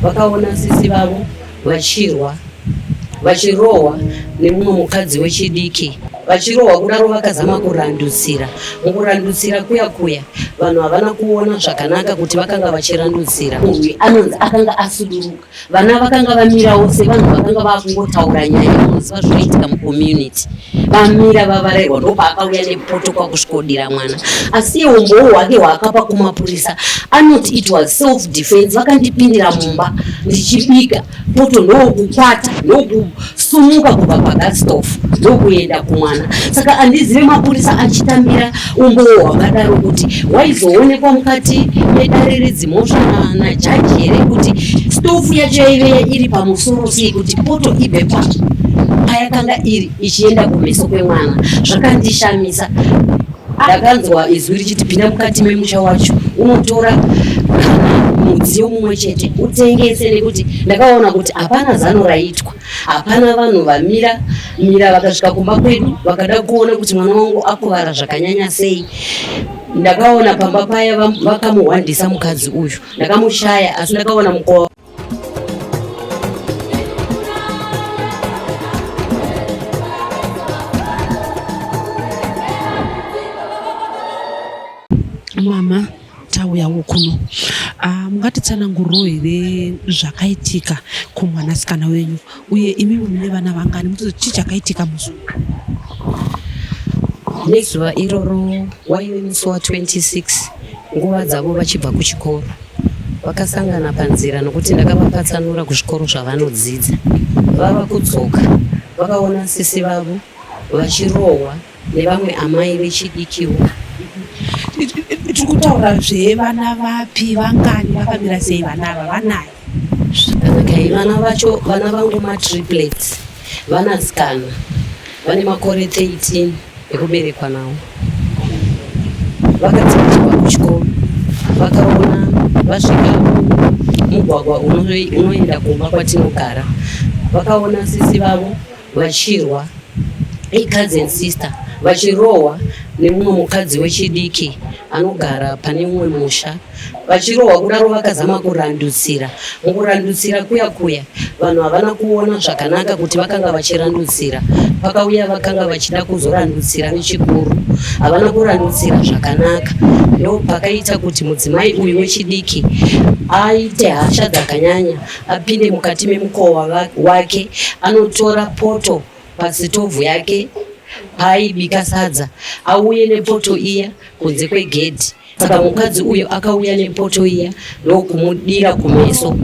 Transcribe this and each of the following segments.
vakaona sisi vavo vachirwa vachirohwa nemumwe mukadzi wechidiki vachirohwa kudaro vakazama kurandutsira mukurandutsira kuya kuya vanhu havana kuona zvakanaka kuti vakanga vachirandutsira uyu anonzi akanga asuduruka vana vakanga vamirawo sevanhu vakanga vakungotaura nyaya inoziva zvinoitika mucommunity Vamira vavarairwa ndopaakauya nepoto kwakusvikodira mwana asi iye umbowo hwake hwaakapa kumapurisa anoti it was self defense vakandipindira mumba ndichibika poto ndokukwata ndokusumuka kubva pagastof ndokuenda kumwana saka andizive mapurisa achitambira Umbowo hwakadaro kuti hwaizoonekwa mukati medare redzimhosva najaji here kuti stofu yacho yaive iri pamusoro sei kuti poto ibve pacho payakanga iri ichienda kumeso kwemwana zvakandishamisa ndakanzwa izwi richiti pinda mukati memusha wacho unotora mudziyo mumwe chete utengese nekuti ndakaona kuti hapana zano raitwa Hapana vanhu vamira mira vakasvika kumba kwedu vakada kuona kuti mwana wangu akuvara zvakanyanya sei. Ndakaona pamba paya vakamuhwandisa mukadzi uyu, ndakamushaya asi ndakaona mukova mama tauyawo kuno ah, mungatitsananguriro here zvakaitika kumwanasikana wenyu uye imi mune vana vangani mutoti chii chakaitika muzuva nezuva iroro waive musi wa 26 nguva dzavo vachibva kuchikoro vakasangana panzira nokuti ndakavapatsanura kuzvikoro zvavanodzidza vava kudzoka vakaona sisi vavo vachirohwa nevamwe amai vechidikiwo tiri kutaura zvevana vapi vangani vakamira sei vana ava vanayo okay vana vacho vana vangu matriplets vanasikana vane makore 13 ekuberekwa nawo vakadzidzirwa kuchikoro vakaona vasvika mugwagwa unoenda kumba kwatinogara vakaona sisi vavo vachirwa icousin sister vachirohwa nemumwe mukadzi wechidiki anogara pane mumwe musha vachirohwa kudaro vakazama kurandutsira mukurandutsira kuya kuya vanhu havana kuona zvakanaka kuti vakanga vachirandutsira pakauya vakanga vachida kuzorandutsira nechikuru havana kurandutsira zvakanaka ndopakaita kuti mudzimai uyu wechidiki aite hasha dzakanyanya apinde mukati memukova wake anotora poto pasitovhu yake paaibika sadza auye nepoto iya kunze kwegedhi saka mukadzi uyo akauya nepoto iya ndokumudira kumeso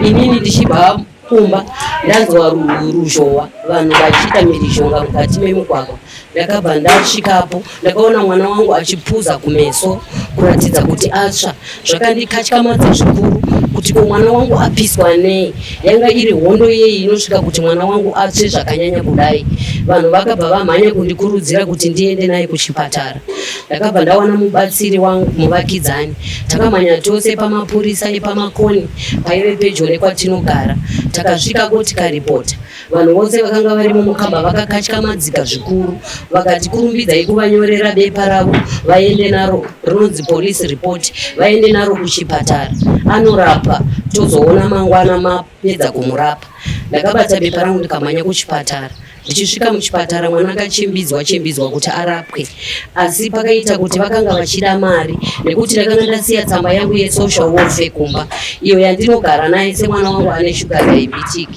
inini ndichibva kumba ndanzwa ruzhowa vanhu vachiita mirizhonga mukati memugwagwa ndakabva ndasvikapo ndakaona mwana wangu achipfuza kumeso kuratidza kuti atsva zvakandikatyamadza zvikuru kuti ko mwana wangu apiswa nei yanga iri hondo yeyi inosvika kuti mwana wangu atsve zvakanyanya kudai vanhu vakabva vamhanya kundikurudzira kuti ndiende naye kuchipatara ndakabva ndawana mubatsiri wangu muvakidzani takamhanya tose pamapurisa epamakoni paive pedyo nekwatinogara takasvikako tikaripota Vanhu vose vakanga varimo mukamba vakakatyamadzika zvikuru vakati kurumbidzai kuvanyorera bepa ravo vaende naro rinonzi police report vaende naro kuchipatara anorapa tozoona mangwana mapedza kumurapa. Ndakabata bepa rangu ndikamhanya kuchipatara ndichisvika muchipatara mwana akachimbidzwa chimbidzwa kuti arapwe asi pakaita kuti vakanga vachida mari nekuti ndakanga ndasiya tsamba yangu yesocial warfare kumba iyo yandinogara naye semwana wangu ane shuga diabetic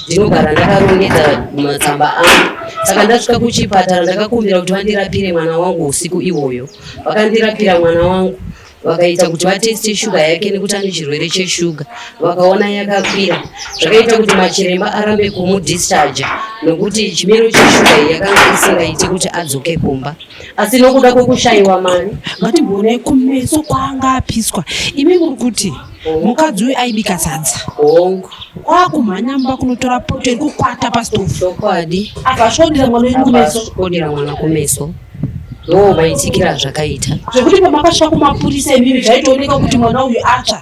ndinogara ndakarongedza matsamba angu saka ndasvika kuchipatara ndakakumbira kuti vandirapire mwana wangu usiku iwoyo vakandirapira mwana wangu vakaita kuti vateste shuga yake nekuti ane chirwere cheshuga vakaona yakakwira zvakaita kuti machiremba arambe kumudischarja nokuti chimiro cheshuga iyi yakanga isingaiti kuti adzoke kumba asi nokuda kwekushaiwa mari ngatigone kumeso kwaanga apiswa imi muri kuti mukadzi uyu aibika sadza hongu kwakumhanya mba kunotora poto iri kukwata pastovu chokwadi akasvodira mwana wenyu kumeso svodira mwana kumeso ndoo maitikira zvakaita zvekuti pamakasvika kumapurisa imimi zvaitooneka kuti mwana uyu atsva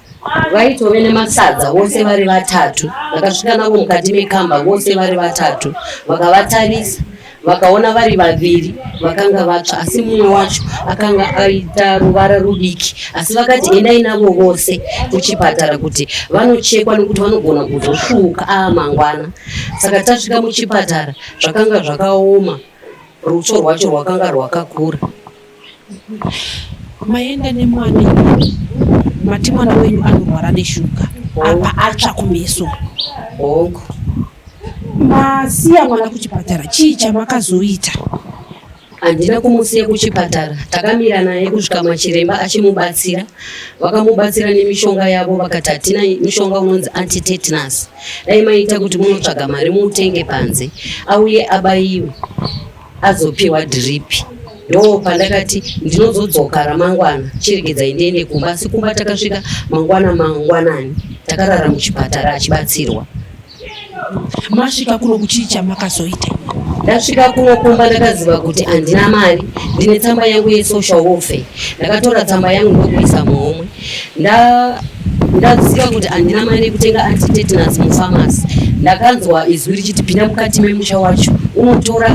vaitove nemasadza vose vari vatatu vakasvika navo mukati mekamba vose vari vatatu vakavatarisa vakaona vari vaviri vakanga vatsva asi mumwe wacho akanga aita ruvara rudiki asi vakati endai navo vose kuchipatara kuti vanochekwa nekuti vanogona kuzosvuuka aa mangwana saka tasvika muchipatara zvakanga zvakaoma rutsvo rwacho rwakanga rwakakura maenda nemwana mati mwana wenyu anorwara neshuga apa atsva kumeso hongu masiya mwana kuchipatara chii chamakazoita handina kumusiya kuchipatara takamira naye kusvika machiremba achimubatsira vakamubatsira nemishonga yavo vakati hatina mishonga unonzi antitetanus dai maita kuti munotsvaga mari muutenge panze auye abaiwe azopiwa drip ndo pandakati ndinozodzoka ramangwana chiregedzai ndiende kumba asi kumba takasvika mangwana mangwanani takarara muchipatara achibatsirwa masvika kuno kuchii chamakazoita ndasvika kuno kumba ndakaziva kuti handina mari ndine tsamba yangu yesocial warfare ndakatora tsamba yangu ndokuisa muhomwe ndaziva kuti handina mari yekutenga antitetanus mufamasi ndakanzwa izwi richiti pinda mukati memusha wacho unotora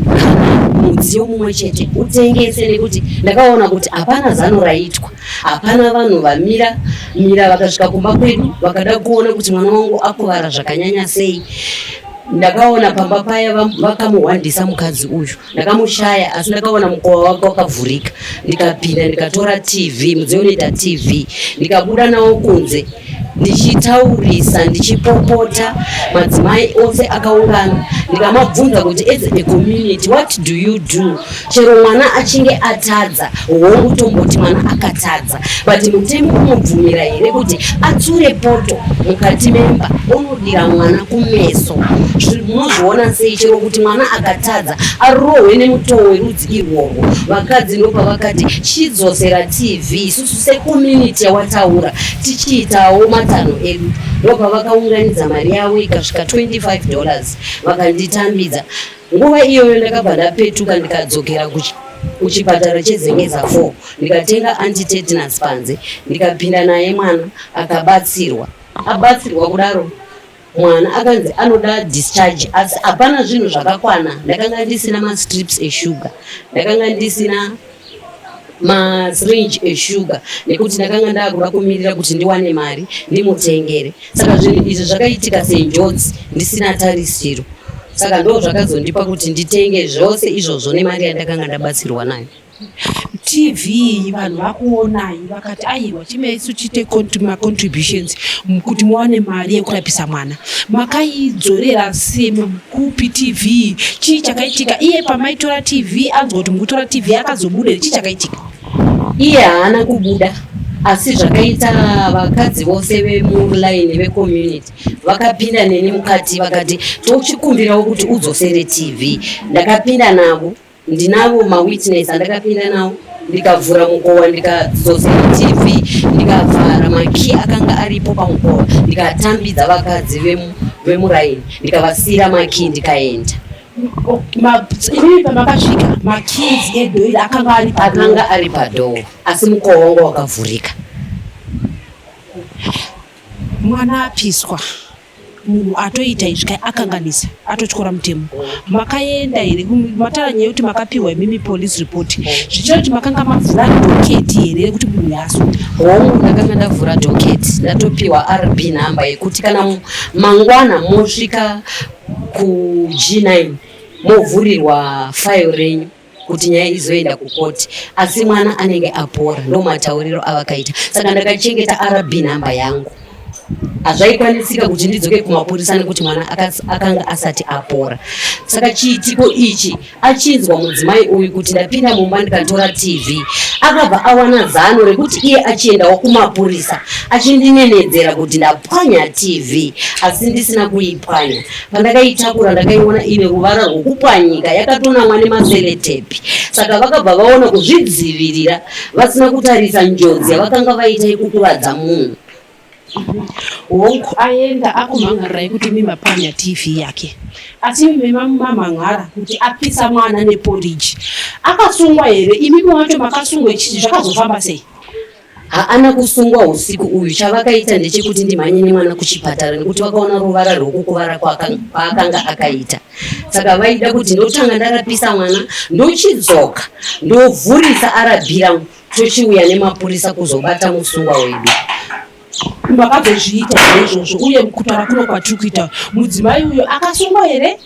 kana mudziyo mumwe chete utengese nekuti ndakaona kuti hapana zano raitwa hapana vanhu vamira mira vakasvika kumba kwedu vakada kuona kuti mwana wangu akuvara zvakanyanya sei ndakaona pamba paya vakamuhwandisa mukadzi uyu ndakamushaya asi ndakaona mukova wake wakavhurika ndikapinda ndikatora tv mudziyo unoita tv ndikabuda nawo kunze ndichitaurisa ndichipopota madzimai ose akaungana ndikamabvunza kuti as a community what do you do chero mwana achinge atadza hongu tomboti mwana akatadza But mutemo unobvumira here kuti atsure poto mukati memba onodira mwana kumeso? Munozviona sei chero kuti mwana akatadza arohwe nemutoo werudzi irworwo? Vakadzi ndopavakati chidzosera TV isusu secommunity yawataura tichiitawo matano edu ndopavakaunganidza mari yavo ikasvika 25 dollars vakanditambidza Nguva iyoyo ndakabva ndapetuka ndikadzokera kuchipatara chezengeza 4 ndikatenga antitetanus panze ndikapinda naye mwana akabatsirwa abatsirwa kudaro mwana akanzi anoda discharge asi hapana zvinhu zvakakwana ndakanga ndisina mastrips eshuga ndakanga ndisina masyringe eshuga nekuti ndakanga ndakuda kumirira kuti ndiwane mari ndimutengere saka zvinhu izvi zvakaitika senjodzi ndisina tarisiro saka ndo zvakazondipa kuti nditenge zvose izvozvo nemari yandakanga ndabatsirwa nayo tv vanhu vakuonai vakati aiwa chimaisu chiite macontributions kuti muwane mari yekurapisa mwana makaidzorera sema kupi tv chii chakaitika iye pamaitora tv anzwa kuti mukutora tv akazobuda chii chakaitika iye haana kubuda asi zvakaita vakadzi vose vemulaini vecommunity vakapinda neni mukati vakati tochikumbirawo kuti udzosere tv ndakapinda navo Ndinavo mawitness andakapinda nawo ndikavhura mukova ndikadzodzera tv ndikavhara makii akanga aripo pamukova ndikatambidza vakadzi vemuraini ndikavasiyira makii ndikaenda imi pamakasvika makii edhoiri akanga ari akanga ari padhoo asi mukova wanga wakavhurika mwana apiswa munhu atoita izvi kai akanganisa atotyora mutemo makaenda here matara nyaya yekuti makapiwa imimi police report zvichira kuti makanga mavhura doketi here rekuti munhu yaso hongu ndakanga ndavhura doketi ndatopiwa rb number yekuti kana mangwana mosvika kug9 movhurirwa file renyu kuti nyaya izoenda kukoti asi mwana anenge apora ndomatauriro avakaita saka ndakachengeta rb nhamba yangu hazvaikwanisika kuti ndidzoke kumapurisa nekuti mwana akanga asati apora saka chiitiko ichi achinzwa mudzimai uyu kuti ndapinda mumba ndikatora tv akabva awana zano rekuti iye achiendawo kumapurisa achindinenedzera kuti ndapwanya tv asi ndisina kuipwanya pandakaitakura ndakaiona ine ruvara rwokupwanyika yakatonamwa nemaseletipi saka vakabva vaona kuzvidzivirira vasina kutarisa njodzi yavakanga vaita yekukuvadza munhu hongu aenda akumhan'arira yekuti mimapwanya tv yake asi mimamamhan'ara kuti apisa mwana neporiji akasungwa here imimi wacho makasungwa chii zvakazofamba sei haana kusungwa husiku uyu chavakaita ndechekuti ndimhanye nemwana kuchipatara nekuti vakaona ruvara rwekukuvara kwaakanga akaita saka vaida kuti ndotanga ndarapisa mwana ndochidzoka ndovhurisa arabi rangu tochiuya nemapurisa kuzobata musungwa wedu makazozviita here izvozvo uye kutaura kuno kwatiri kuita mudzimai uyo akasungwa here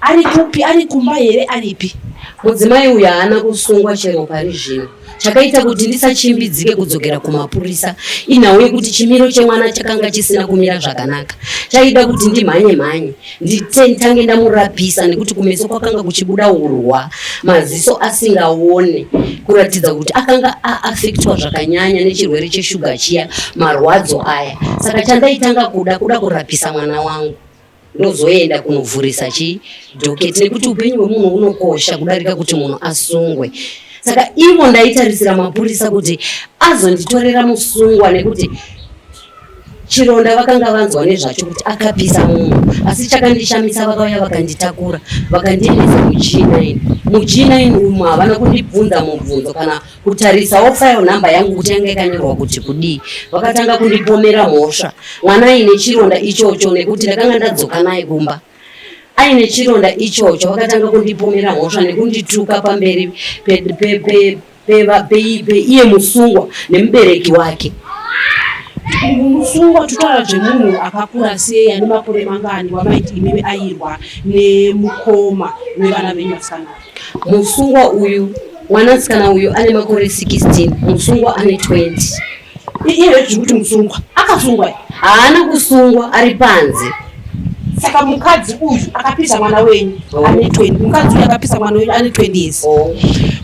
ari kupi ari kumba here aripi mudzimai uyo haana kusungwa chero pari zvino chakaita kuti ndisachimbidzike kudzokera kumapurisa inhau yekuti chimiro chemwana chakanga chisina kumira zvakanaka chaida kuti ndimhanye mhanye nditentange ndamurapisa nekuti kumeso kwakanga kuchibuda urwa maziso asingaone kuratidza kuti akanga aafektwa zvakanyanya nechirwere cheshuga chiya marwadzo aya saka chandaitanga kuda kuda kurapisa mwana wangu ndozoenda kunovhurisa chi doketi nekuti upenyu hwemunhu unokosha kudarika kuti munhu asungwe saka ivo ndaitarisira mapurisa kuti azonditorera musungwa nekuti chironda vakanga vanzwa nezvacho kuti akapisa munhu asi chakandishamisa vakauya vakanditakura vakandiendesa muchina ini muchina ini umu havana kundibvunza mubvunzo kana kutarisawo file number yangu kuti yanga yakanyorwa kuti kudii. Vakatanga kundipomera mhosva mwana aine chironda ichocho nekuti ndakanga ndadzoka naye kumba aine chironda ichocho. Vakatanga kundipomera mhosva nekundituka pamberi peiye musungwa nemubereki wake musungwa tutaura zvemunhu akakura sei ane makore mangani wamaiti imimi ayirwa nemukoma wevana venyu vasikana Musungwa uyu mwanasikana uyu ane makore 16 musungwa ane 20 iye zvekuti musungwa akasungwa haana kusungwa ari panze saka mukadzi uyu akapisa mwana wenyu ane 20 mukadzi uyu akapisa mwana wenyu ane 20 years oh.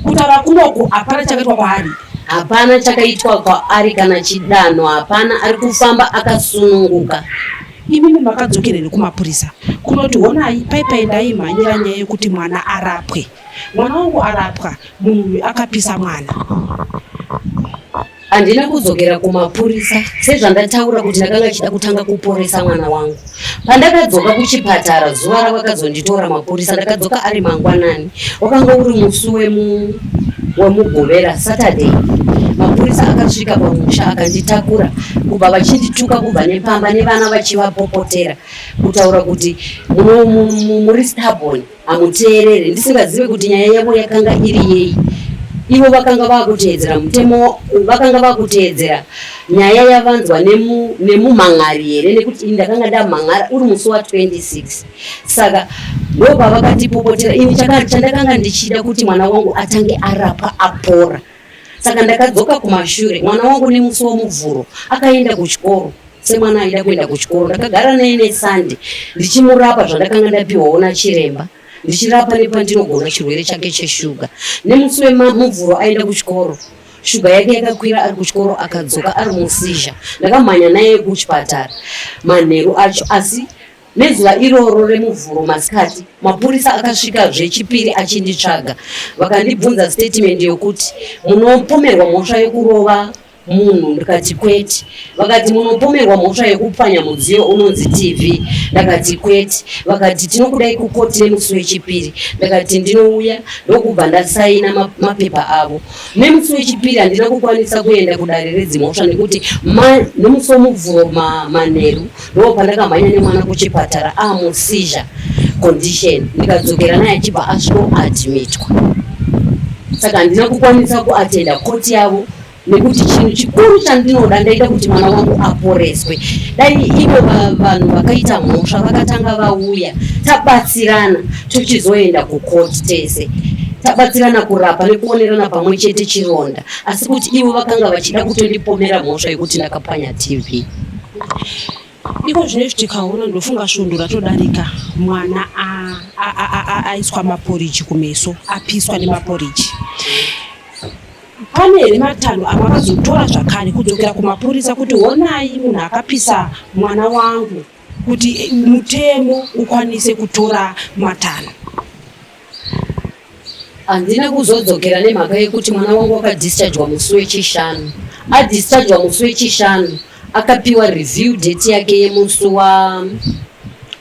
kutaura kunoko hapana chakaitwa kwaari hapana chakaitwa kwaari kana chidanho hapana ari kufamba akasununguka Imimi makadzokera here kumapurisa kunoti honai paipai ndaimhanyira nyaya yekuti mwana arapwe mwana wangu arapwa munhu uyu akapisa mwana handina kudzokera kumapurisa sezvandataura kuti ndakanga chida kutanga kuporesa mwana wangu pandakadzoka kuchipatara zuva ravakazonditora mapurisa ndakadzoka ari mangwanani Wakanga uri musi wemu wemugovera Saturday. Mapurisa akasvika pamusha akanditakura kubva vachindituka kubva nepamba nevana vachivapopotera kutaura kuti muri stubborn hamuteerere ndisingazive kuti nyaya yavo yakanga iri yei ivo vakanga vakuteedzera mutemo vakanga vakuteedzera nyaya yavanzwa nemumhan'ari here nekuti ndakanga ndamhan'ara uri musi wa 26 saka ndopavakatipopotera ini chandakanga ndichida kuti mwana wangu atange arapwa apora saka ndakadzoka kumashure mwana wangu nemusi womuvhuro akaenda kuchikoro semwana aida kuenda kuchikoro ndakagara naye nesande ndichimurapa zvandakanga ndapiwawo nachiremba ndichirapa nepandinogona chirwere chake cheshuga nemusi wemuvhuro aenda kuchikoro shuga yake yakakwira ari kuchikoro akadzoka ari musizha ndakamhanya naye kuchipatara manheru acho asi Nezuva iroro reMuvhuro masikati, mapurisa akasvika zvechipiri achinditsvaga. Vakandibvunza statement yokuti munopomerwa mhosva yokurova munhu ndikati kwete. Vakati munopomerwa mhosva yokupwanya mudziyo unonzi TV ndakati kwete. Vakati tinokudai kukoti nemusi wechipiri ndakati ndinouya ndokubva ndasaina ma- mapepa avo. Nemusi wechipiri handina kukwanisa kuenda kudare redzimhosva nekuti ma- nemusi womuvhuro ma- manheru ndo pandakamhanya nemwana kuchipatara amusizha condition ndikadzokera naye achibva asvikoadmitwa saka handina kukwanisa kuatenda koti yavo nekuti chinhu chikuru chandinoda ndaida kuti mwana wangu aporeswe dai ivo vanhu vakaita mhosva vakatanga vauya tabatsirana tochizoenda kukoti tese tabatsirana kurapa nekuonerana pamwe chete chironda asi kuti ivo vakanga vachida kutondipomera mhosva yekuti ndakapwanya tv Iko zvinezvi tikaona ndofunga svondo ratodarika mwana aiswa maporiji kumeso apiswa nemaporiji pane here matanho avakazotora zvakare kudzokera kumapurisa kuti honai munhu akapisa mwana wangu kuti mutemo ukwanise kutora matanho handina kuzodzokera nemhaka yekuti mwana wangu akadischargwa musi wechishanu adischargwa musi wechishanu akapiwa review date yake yemusi wa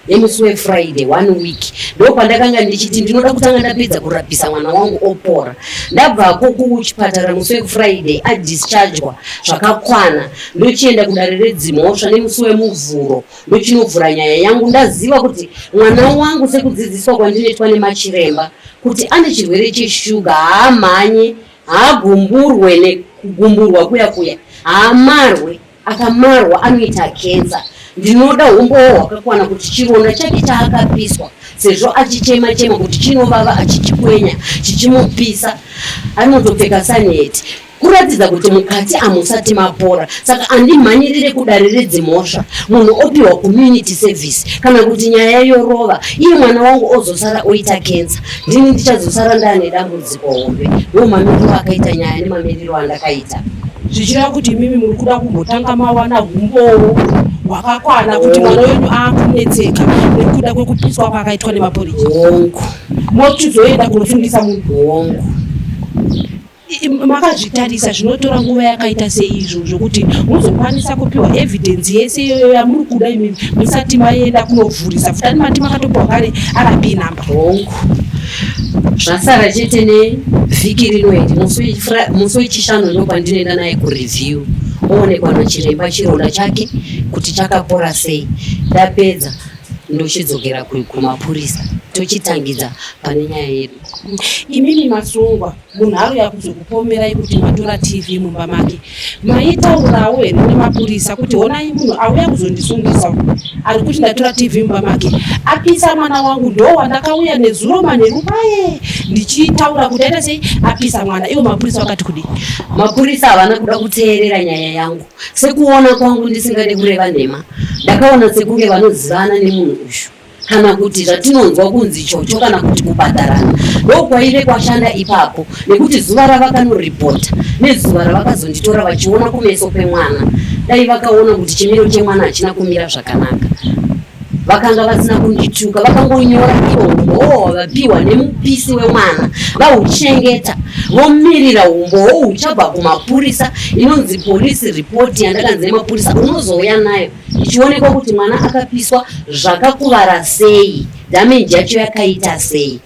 nemusi wefriday one week ndo pandakanga ndichiti ndinoda kutanga ndapedza kurapisa mwana wangu opora ndabvako kuchipatara musi wefriday adischargwa zvakakwana ndochienda kudare redzimhosva nemusi wemuvhuro ndochinovhura nyaya yangu ndaziva kuti mwana wangu sekudzidziswa kwandinoitwa nemachiremba kuti ane chirwere cheshuga haamhanye haagumburwe nekugumburwa kuya kuya haamarwe akamarwa anoita kensa ndinoda humbowo hwakakwana kuti chironda chake chaakapiswa sezvo achichema chema kuti chinovava achichikwenya chichimupisa anotopfeka saneti kuratidza kuti mukati amusati mapora saka andimhanyirire kudare redzimhosva munhu opiwa community service kana kuti nyaya yorova iye mwana wangu ozosara oita kensa ndini ndichazosara ndaane dambudziko hombe ndo mamiriro akaita nyaya nemamiriro andakaita zvichireva kuti imimi muri kuda kumbotanga mawana humbowo hwakakwana kuti mwana wenyu aakunetseka nekuda kwekupiswa kwaakaitwa nemapuriji hongu mochizoenda kunofundisa munhu hongu makazvitarisa zvinotora nguva yakaita seizvo zvokuti muzokwanisa kupiwa evidence yese iyoyo yamuri kuda imimi musati maenda kunovhurisa futani mati makatopiwa kare rb number hongu zvasara chete nevhiki rino iri musi wechishanu ndo kwandinoenda naye kureview oonekwa nachiremba chironda chake kuti chakapora sei ndapedza ndochidzokera kumapurisa tochitangidza pane nyaya yedu imimi masungwa munhu auya kuzokupomerai kuti matora tv mumba make maitaurawo here nemapurisa kuti honai munhu auya kuzondisungisa ari kuti ndatora tv mumba make apisa mwana wangu ndo wandakauya nezuro manheru paye ndichitaura kuti aita sei apisa mwana ivo mapurisa vakati kudii mapurisa havana kuda kuteerera nyaya yangu sekuona kwangu ndisingade kureva nhema ndakaona sekunge vanozivana nemunhu uyu kana kuti zvatinonzwa kunzi chocho kana kuti kubhadharana ndokwaive kwashanda ipapo nekuti zuva ravakanoripota nezuva ravakazonditora vachiona kumeso kwemwana dai vakaona kuti chimiro chemwana hachina kumira zvakanaka vakanga vasina kundituka vakangonyora ivo vapiwa nemupisi wemwana vauchengeta vomirira umbowo uchabva kumapurisa inonzi polisi ripoti yandakanzi nemapurisa unozouya nayo ichionekwa kuti mwana akapiswa zvakakuvara sei damenji yacho yakaita sei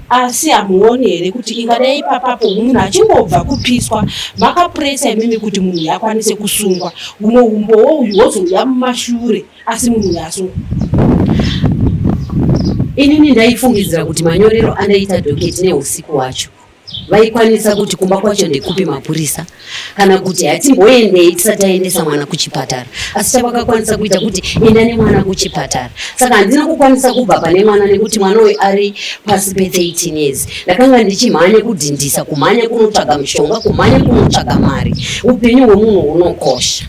asi hamuoni here kuti ingadai ipapapo munhu achingobva kupiswa makapuresa imimi kuti munhu uyu akwanise kusungwa humwe umbowo uyu hwozouya mumashure asi munhu uyu asungwa inini ndaifungidzira kuti manyorero andaita doketi neusiku wacho vaikwanisa kuti kumba kwacho ndekupi mapurisa kana kuti hatimboendei tisati aendesa mwana kuchipatara asi chavakakwanisa kuita kuti enda nemwana kuchipatara saka handina kukwanisa kubva pane mwana nekuti mwana uyu ari pasi pe13 years ndakanga ndichimhanya kudhindisa kumhanya kunotsvaga mushonga kumhanya kunotsvaga mari upenyu hwemunhu hunokosha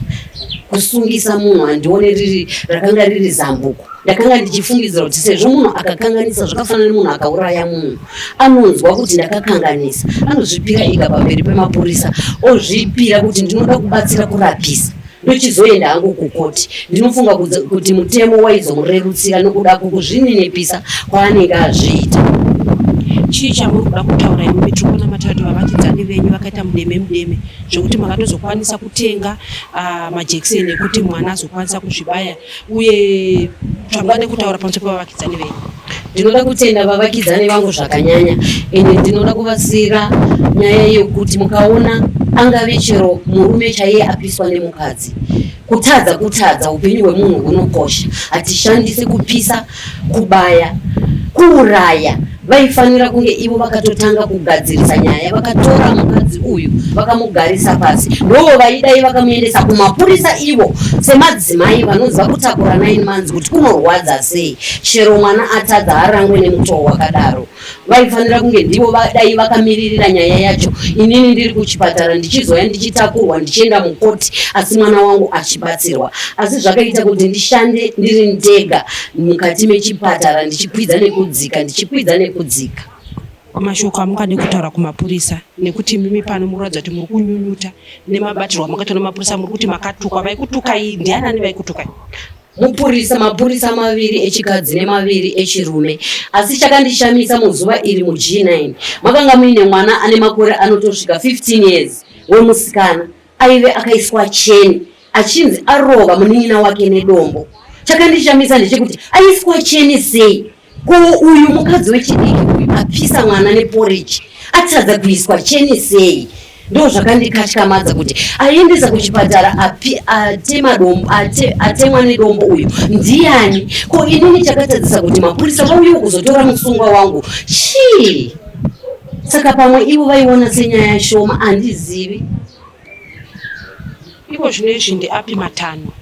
kusungisa munhu handione riri rakanga riri zambuko ndakanga ndichifungidzira kuti sezvo munhu akakanganisa zvakafanana nemunhu akauraya munhu anonzwa kuti ndakakanganisa anozvipira ika pamberi pemapurisa ozvipira kuti ndinoda kubatsira kurapisa ndochizoenda hangu kukoti ndinofunga kuti mutemo waizomurerutsira nokuda kukuzvininipisa kwaanenge azviita chii chamuri kuda kutaura imi mitrikona matatu vavakidzani venyu vakaita mudeme mudeme zvekuti makatozokwanisa kutenga ah, majekiseni ekuti mwana azokwanisa kuzvibaya uye zvangwade kutaura pamusoro pevavakidzani venyu ndinoda kutenda vavakidzani vangu zvakanyanya ende ndinoda kuvasira nyaya yekuti mukaona angave chero murume chaiye apiswa nemukadzi kutadza kutadza upenyu hwemunhu hunokosha hatishandise kupisa kubaya kuuraya vaifanira kunge ivo vakatotanga kugadzirisa nyaya vakatora mukadzi uyu vakamugarisa pasi ndoo vaidai vakamuendesa kumapurisa ivo semadzimai vanonzi vakutakura nine months kuti kunorwadza sei chero mwana atadza harangwe nemutoo wakadaro vaifanira kunge ndivo vadai vakamiririra nyaya yacho inini ndiri kuchipatara ndichizoya ndichitakurwa ndichienda mukoti asi mwana wangu achibatsirwa asi zvakaita kuti ndishande ndiri ndega mukati mechipatara ndichikwidza nekudzika ndichikwidza nekudzika mashoko amungade kutaura kumapurisa nekuti mimi pano mukuratidza kuti muri kunyunyuta nemabatirwo amakaitwa nemapurisa muri kuti makatukwa vaikutukai ndianani vaikutukai mupurisa mapurisa maviri echikadzi nemaviri echirume asi chakandishamisa muzuva iri mug9 makanga muine mwana ane makore anotosvika 15 years wemusikana aive akaiswa cheni achinzi arova munin'ina wake nedombo chakandishamisa ndechekuti aiswa cheni sei Ko uyu mukadzi wechidiki uyu apisa mwana neporridge atadza kuiswa cheni sei? Ndo zvakandikatyamadza kuti aiendesa kuchipatara api atema dombo ate, atemwa nedombo uyu ndiani? Ko inini chakatadzisa kuti mapurisa vauyewo kuzotora musungwa wangu chii? Saka pamwe ivo vaiona senyaya shoma, andizivi. Iko zvino izvi ndeapi matanho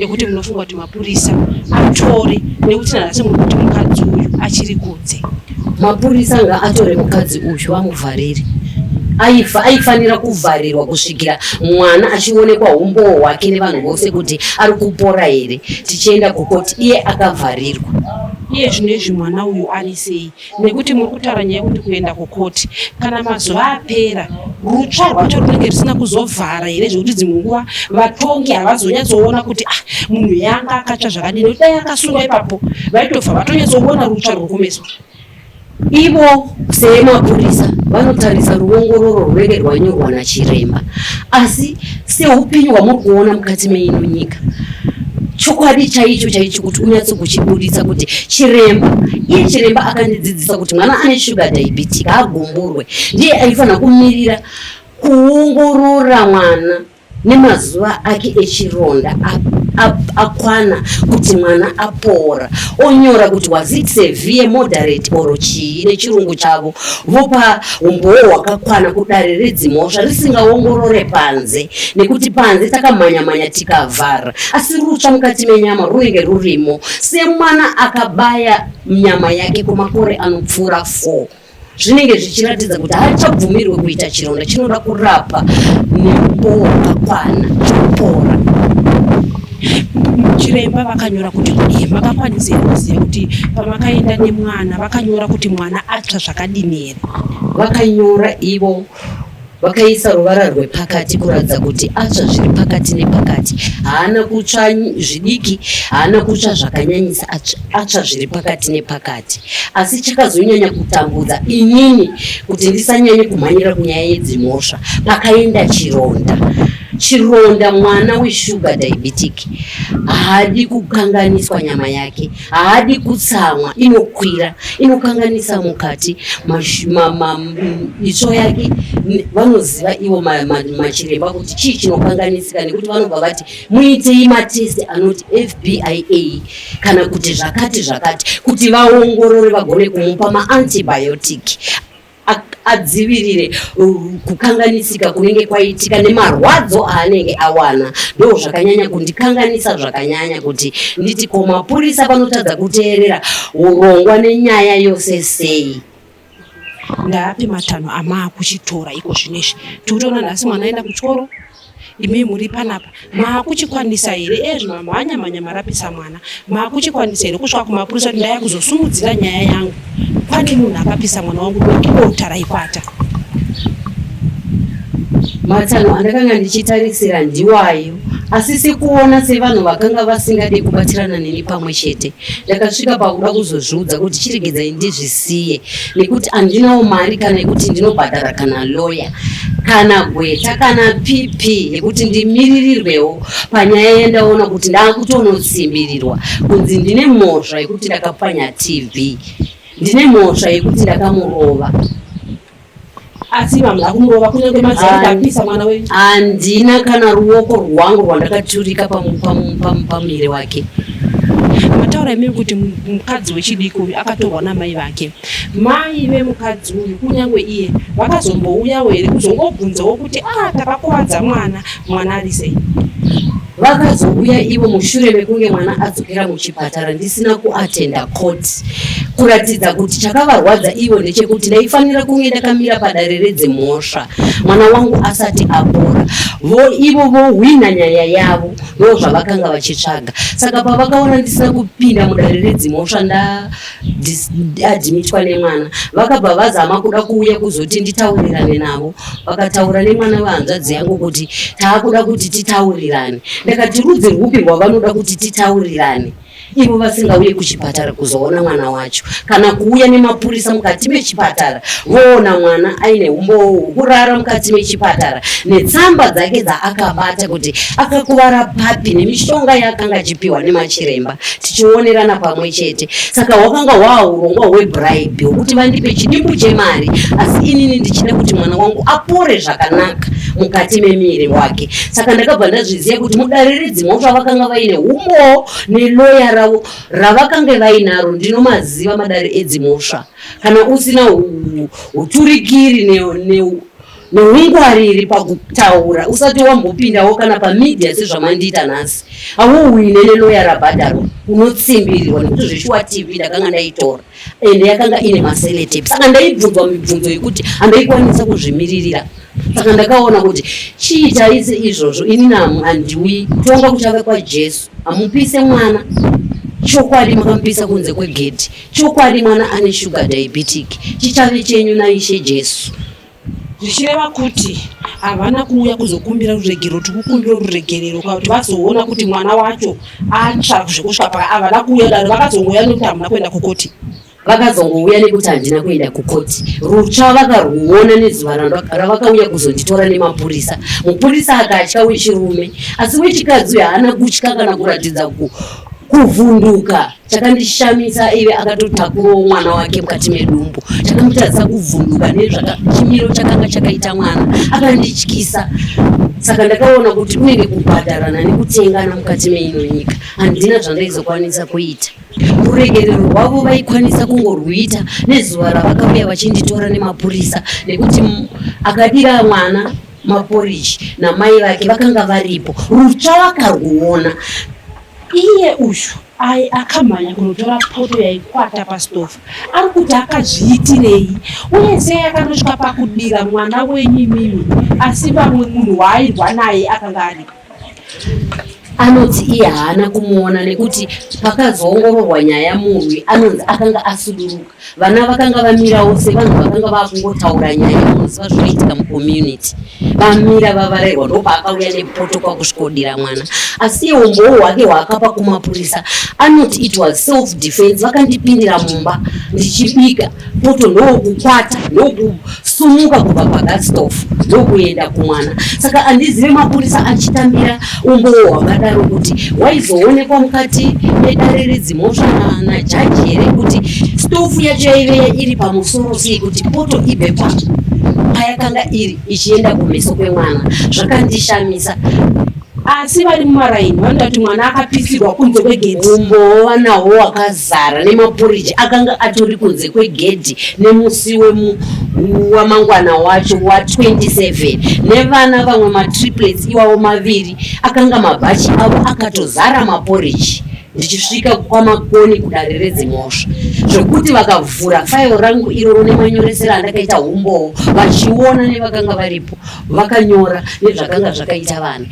ekuti munofunga kuti mapurisa atore nekuti nanhasi muri kuti mukadzi uyu achiri kunze? Mapurisa ngaatore mukadzi uyu vamuvharire aifa aifanira kuvharirwa kusvikira mwana achionekwa umbowo hwake nevanhu vose kuti ari kupora here tichienda kukoti iye akavharirwa iye zvino izvi mwana uyu ari sei nekuti muri kutaura nyaya yekuti kuenda kukoti kana mazuva apera rutsva rwacho runenge risina kuzovhara here zvekuti dzimwe nguva vatongi havazonyatsoona kuti ah munhu yanga akatsva zvakadini nekuti dai akasungwa ipapo vaitobva vatonyatsoona rutsva ruri kumeso ivo semapurisa vanotarisa ruongororo rwunenge rwanyorwa nachiremba asi seupenyu hwamuri kuona mukati meino nyika chokwadi chaicho chaicho kuti unyatso kuchibuditsa kuti chiremba iye chiremba akandidzidzisa kuti mwana ane shuga diabetic agumburwe ndiye aifanira kumirira kuongorora mwana nemazuva ake echironda akwana kuti mwana apora onyora kuti was it severe moderate or chii nechirungu chavo vopa umbowo hwakakwana kudare redzimhosva risingaongorore panze nekuti panze takamhanyamhanya tikavhara asi rutsva mukati menyama runenge rurimo semwana akabaya nyama yake kwemakore anopfuura 4 zvinenge zvichiratidza kuti haachabvumirwe kuita chironda chinoda kurapa neumbowo hwakakwana chopora chiremba vakanyora kuti kudii makakwanisa here kuziva kuti pamakaenda nemwana vakanyora kuti mwana atsva zvakadini here vakanyora ivo vakaisa ruvara rwepakati kuratidza kuti atsva zviri pakati nepakati haana kutsva zvidiki haana kutsva zvakanyanyisa atsva zviri pakati nepakati asi chakazonyanya kutambudza inini kuti ndisanyanye kumhanyira kunyaya yedzimhosva pakaenda chironda Chironda mwana weshuga diabetic haadi kukanganiswa nyama yake, haadi kutsamwa, inokwira inokanganisa mukati itsvo yake. Vanoziva ivo machiremba kuti chii chinokanganisika, nekuti vanobva vati muitei matesti anoti FBIA kana kuti zvakati zvakati, kuti vaongorore vagone kumupa maantibiotic adzivirire kukanganisika kunenge kwaitika nemarwadzo aanenge awana ndo zvakanyanya kundikanganisa zvakanyanya kuti nditi ko mapurisa vanotadza kuteerera urongwa nenyaya yose sei ndaapi matanho amaakuchitora iko zvino izvi tikutoona nhasi mwana aenda kuchikoro imi muri panapa maakuchikwanisa here ezvi mamhanya mhanya marapisa mwana maakuchikwanisa here kusvika kumapurisa kuti ndaya kuzosumudzira nyaya yangu pane munhu akapisa mwana wangu dokidota raikwata matsano andakanga ndichitarisira ndiwayo asi sikuona sevanhu vakanga vasingade kubatsirana neni pamwe chete ndakasvika pakuda kuzozviudza kuti chiregedzai ndizvisiye nekuti andinawo mari kana yekuti ndinobhadhara kana loya kana gweta kana pp yekuti ndimiririrwewo panyaya yandaona kuti ndakutonotsimbirirwa kunzi ndine mhosva yekuti ndakapwanya tv ndine mhosva yekuti ndakamurova asi vamwe akumurova kunyange madzimai apisa mwana wenyu handina kana ruoko rwangu rwandakaturika pamuviri wake mataura imimi kuti mukadzi wechidiki uyu akatorwa namai vake mai vemukadzi uyu kunyange iye vakazombouyawo here kuzongobvunzawo kuti a ah, takakuvadza mwana mwana ari sei Vakazouya ivo mushure mekunge mwana adzokera muchipatara ndisina kuatenda court kuratidza kuti chakavarwadza ivo ndechekuti ndaifanira kunge ndakamira padare redzemhosva mwana wangu asati apora vo ivo vohwina nyaya yavo ndo zvavakanga vachitsvaga saka pavakaona ndisina kupinda mudare redzimhosva nda adhimitwa nemwana vakabva vazama kuda kuuya kuzoti nditaurirane navo vakataura nemwana vehanzvadzi yangu kuti taakuda kuti titaurirane ndakati rudzi rwupi rwavanoda kuti titaurirane ivo vasingauye kuchipatara kuzoona mwana wacho kana kuuya nemapurisa mukati mechipatara voona mwana aine umbowo hwokurara mukati mechipatara netsamba dzake dzaakabata kuti akakuvara papi nemishonga yaakanga achipiwa nemachiremba tichionerana pamwe chete saka hwakanga hwaurongwa hwebribe hwekuti vandipe chidimbu chemari asi inini ndichida kuti mwana wangu apore zvakanaka mukati memiri wake saka ndakabva ndazviziva kuti mudariridzi mhosva vakanga vaine umbowo neloya ravo ravakange vainaro ndinomaziva madari edzimhosva kana usina uturikiri ne, ne, neungwariri pakutaura usati wambopindawo kana pamedia sezvamandiita nhasi awouine neloya rabhadharwa unotsimbirirwa nekuti zveshuwa tv ndakanga ndaitora ende yakanga ine maseletape saka ndaibvunzwa mibvunzo yekuti handaikwanisa kuzvimiririra saka ndakaona kuti chii chaise izvozvo ini namu handiwi kutonga kuchave kwajesu hamupise mwana chokwadi makamupisa kunze kwegedhi chokwadi mwana ane shuga diabetic chichave chenyu naishe jesu zvichireva kuti havana kuuya kuzokumbira ruregerero tikukumbira ruregerero kuti vazoona kuti mwana wacho atsva zvekusvika paa havana kuuya daro vakazongouya nekuti hamuna kuenda kukoti vakazongouya nekuti handina kuenda kukoti rutsva vakarwuona nezuva ravakauya kuzonditora nemapurisa mupurisa akatya wechirume asi wechikadzi uyo haana kutya kana kuratidza kuvhunduka chakandishamisa ive akatotakurawo mwana wake mukati medumbu chakamutadzisa kuvhunduka nezvachimiro chakanga chakaita mwana akandityisa saka ndakaona kuti kunenge kubhadharana nekutengana mukati meino nyika handina zvandaizokwanisa kuita ruregerero rwavo vaikwanisa kungorwuita nezuva ravakauya vachinditora nemapurisa nekuti akadira mwana maporiji namai vake vakanga varipo rutsva vakarwuona Iye uyu aye akamhanya kunotora poto yaikwata pastofa ari kuti akazviitirei uye sei akanosvika pakudira mwana wenyu imimi asi vamwe munhu waairwa naye akanga aripo anoti iye haana kumuona nekuti pakazoongororwa nyaya murwi anonzi akanga asuduruka vana vakanga vamirawo sevanhu vakanga vakungotaura nyaya yaunoziva zvinoitika mucommunity vamira vavarairwa ndopaakauya nepoto kwakusvikodira mwana asi iye umbowo hwake hwaakapa kumapurisa anoti it was self defense vakandipindira mumba ndichibika poto ndokukwata ndoku sumuka kubva pagastof ndokuenda kumwana saka andizive mapurisa achitambira umbowo hwakadaro kuti waizoonekwa mukati medare redzimhosva najaji here kuti stofu yacho yaive iri pamusoro sei kuti poto ibve pa payakanga iri ichienda kumeso kwemwana zvakandishamisa asi vari mumaraini vanoda kuti mwana akapisirwa kunze kwegedhi umbowo vanawo wakazara nemapuriji akanga atori kunze kwegedhi nemusi wamangwana wacho wa27 nevana vamwe matriplets iwawo maviri akanga mabhachi avo akatozara mapuriji ndichisvika kwamakoni kudare redzimhosva zvekuti vakavhura fairo rangu iroro nemanyoresero andakaita umbowo vachiona nevakanga varipo vakanyora nezvakanga zvakaita vanhu